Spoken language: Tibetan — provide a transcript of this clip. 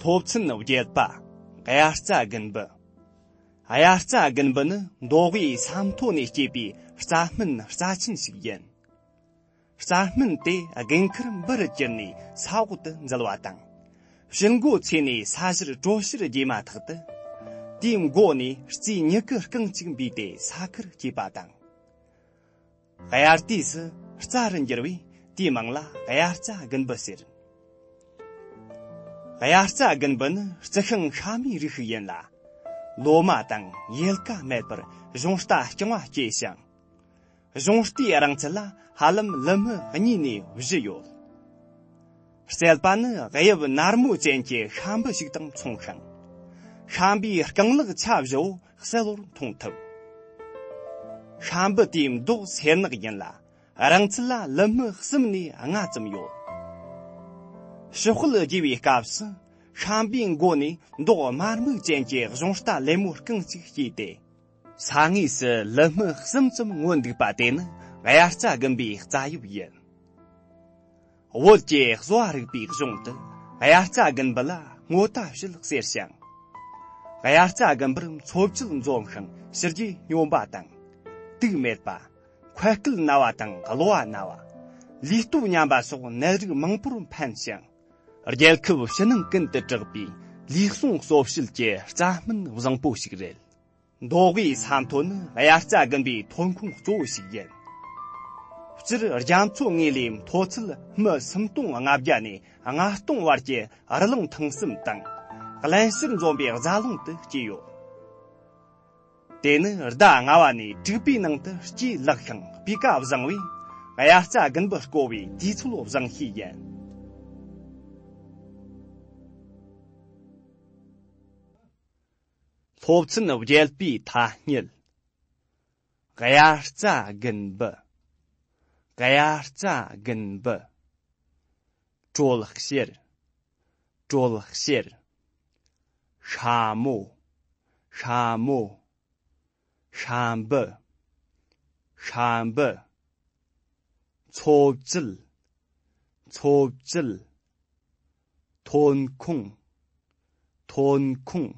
སློབ་ཚན་བརྒྱད་པ་དབྱར་རྩྭ་དགུན་འབུ་དབྱར་རྩྭ་དགུན་འབུ་ནི་མདོ་དབུས་ས་མཐོ་ནས་སྐྱེས་པའི་རྩྭ་སྨན་རྩ་ཆེན་ཞིག་ཡིན། རྩྭ་སྨན་དེ་རྒན་ཁུར་འབུ་རུ་གྱུར་ནས་ས་འོག་ཏུ་འཛུལ་བ་དང། ཞི་འགོ་ཚེས་ནས་ས་གཞིར་དྲོད་གཤེར་རྒྱས་མ་ཐག་ཏུ། དེའི་མགོ་ནས་རྩའི་མྱུ་གུ་རྐང་གཅིག་འབུས་ཏེ་ས་ཁུར་སྐྱེས་པ་དང། དབྱར་དུས་སུ་རྩྭ་རུ་འགྱུར་བས་དེའི་མིང་ལ་དབྱར་རྩྭ་དགུན་འབུ་ཟེར། དབྱར་རྩྭ་དགུན་འབུ་ནི་རྩི་ཤིང་ཤ་མའི་རིགས་ཤིག་ཡིན་ལ། ལོ་མ་དང་ཡལ་ག་མེད་པར་གཞུང་རྟ་རྐྱང་བ་སྐྱེས་ཤིང། གཞུང་རྟའི་རིང་ཚད་ལ་ཧ་ལམ་ལི་སྨི་གཉིས་ནས་བཞི་ཡོད། རྩལ་པ་ནི་དབྱིབས་ནར་མོ་ཅན་གྱི་ཤ་འབུ་ཞིག་དང་མཚུངས་ཤིང། ཤ་འབུའི་རྐང་ལག་ཆ་བཞི་བོ་གསལ་བོར་མཐོང་ཐུབ། ཧྲ་འབུ་དེའི་མདོག་སེར་ནག་ཡིན་ལ་རང་ཚུགས་ལ་ལི་སྨི་གསུམ་ནས་ལྔ་ཙམ་ཡོད། ཕྱི་དཔལ་རྒྱས་པའི་སྐབས་སུ་ཧྲ་འབུའི་མགོ་ནས་མདོག་དམར་སྨུག་ཅན་གྱི་གཞུང་རྟ་ལེབ་མོ་རྐང་གཅིག་སྐྱེས་ཏེ། ས་ངོས་སུ་ལི་སྨི་གསུམ་ཙམ་མངོན་འདུག་པ་དེ་ནི་དབྱར་རྩྭ་དགུན་པའི་རྩྭ་ཡུག་ཡིན། བོད་ཀྱི་གསོ་བ་རིག་པའི་གཞུང་དུ་དབྱར་རྩྭ་དགུན་འབུ་ལ་སྔོ་རྟ་བཤུལ་ཟེར་ཞིང། དབྱར་རྩྭ་དགུན་འབུར་འཚོ་བཅུད་འཛོམས་ཤིང་ཕྱི་རྒྱུད་སྙོམས་པ་དང། དུག་མེད་པ། འཁོལ་སྐུད་ན་བ་དང་གློ་བ་ན་བ། ལུས་སྟོབས་ཉམས་པ་སོགས་ནད་རིགས་མང་པོར་ཕན་ཞིང། རྒྱལ་ཁབ་ཕྱི་ནང་ཀུན་ཏུ་གྲགས་པའི་ལུས་ཟུངས་གསོ་བྱེད་ཀྱི་རྩྭ་སྨན་བཟང་པོ་ཞིག་རེད། མདོ་དབུས་ས་མཐོ་ནི་དབྱར་རྩྭ་དགུན་པའི་ཐོན་ཁུངས་གཙོ་བོ་ཞིག་ཡིན། སྤྱིར་རྒྱ་མཚོ་ལྔའི་ལས་མཐོ་ཚད་སྨི་སུམ་སྟོང་ལྔ་བརྒྱ་ནས་ལྔ་སྟོང་བར་གྱི་རི་ཀླུང་ཐང་གསུམ་དང། བརླན་ཕྱིར་འཛོམས་པའི་རྫ་ཀླུང་དུ་སྐྱེས་ཡོད། དེ་ནི་ཟླ་ལྔ་བ་ནས་དྲུག་པའི་ནང་དུ་སྐྱེས་ལེགས་ཤིང་སྤུས་ཀ་བཟང་བས་དབྱར་རྩྭ་དགུན་འབུ་བརྐོ་བའི་དུས་ཚོད་བཟང་ཤོས་ཡིན། སློབ་ཚན་བརྒྱད་པའི་ཐ་སྙད། གཡའ་རྩ་རྒན་པོ། གཡའ་རྩ་རྒན་པོ། དྲོད་གཤེར། དྲོད་གཤེར། ཤ་མོ། ཤ་མོ། ཤ་འབུ། ཤ་འབུ། འཚོ་བཅུད། འཚོ་བཅུད། ཐོན་ཁུངས། ཐོན་ཁུངས།